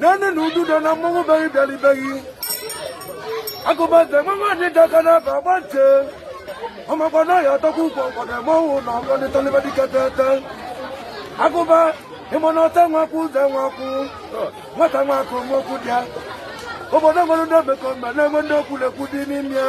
naanị na ududo na mmọnwụ beghị bịalibeghị Agụbante mmanwụ ndị ji aka na-aba agba nche ọmakwa na ya atọkwa ukwu ọkwado mmọnwụ na ọkọ ndị tọlịba dịka tete agụba ịma na ọta nwakwụ ụzọ nwakwụ nwata nwakwụ nwokwu dị ya obodo nwere ndị omekome na-enwe ndị okwu na-ekwu dị n'ime ya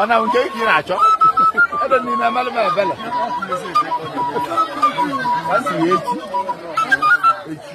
ọ na nke ka ị na-achọ ebe niile amalụ m ebele a si ya echi echi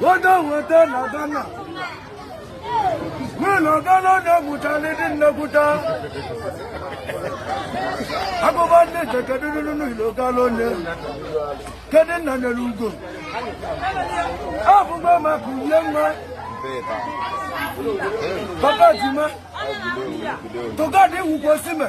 Odo weta na Ghana. Nwunye na Ghana onye mụchara ndị nnekwuta. Agụbante kedu nunu n'ilo gala onye. Kedu nna nyere ugo. Abụba maka uye nwa. Papa Juma. To God wukwo sime.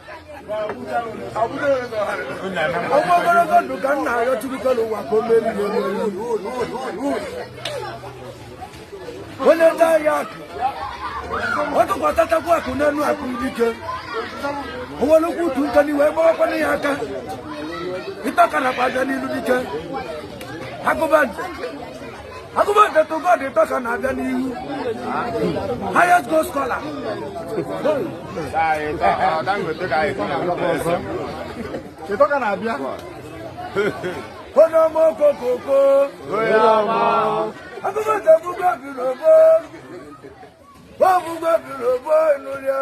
ọ bụ ogologo ndụ ka m na-arịọ Chukwu kelu ụwa ka o meri onye ndị ahịa akụ ọ tụkwatatakwa akụ n'elu akụ dike onwere ukwu utu nka n'iwe gbawakwana ya aka ịtaka nakwa aja n'ilu dike Agụbante Agụbante to God ịtọ ka na-abịa n'ihu highest goal scorer ịtọ ka na-abịa onye ọma okokoko Agụbante to God biri ogbo ogbo biri ogbo ịnụlị ya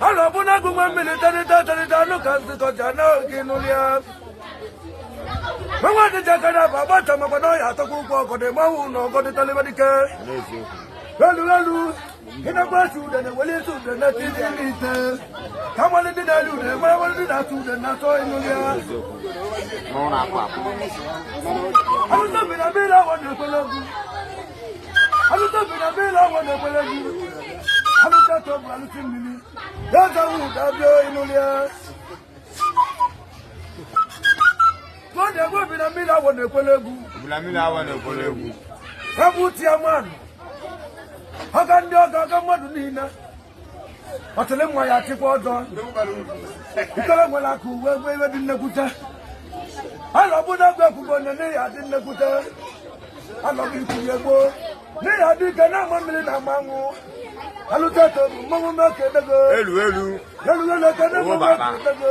Ala bụ na agụnwe mmiri tarịta tarịta anụ ka nzụkọja n'oge n'ụlọ ya. Mmanwụ ndị ji aka na-aba agbata makwa na ọya atọkwa ụkwụ ọgọdị mmanwụ na ọgọdị talịba dike. Elu elu ịnakwa asụ ude na-eweli isi ude na ti dị ndị ite. Ka a malụ ndị na-eri ude ma malụ ndị na-asụ ude na-atọ ịnụlị ya. Alụta obi na mmiri awọ na-ekwele egwu. alụta obi na mmiri awọ na-ekwere egwu alụta ka ọ bụ alụta mmiri ya ọjọwụ ụda abịa ịnụlị ya ọgọdị egbu obi na mmiri awọ na-ekwere egwu egwu tiaman ọga ndị ọga ọga mmadụ niile otele nwa ya achịkwa ọjọ ikere nwere aka uwe egbe iwe dị nnekwute alọ bụ na egwu ekwugbo onye n'ihi adị nnekwute alọghị ikwunye gboo n'ihi adị ike na-ama mmiri na ama anwụ alụta eto bụ mmanwụ mmekọ edego elu elu elu elu eke na-enwe mmekọ edego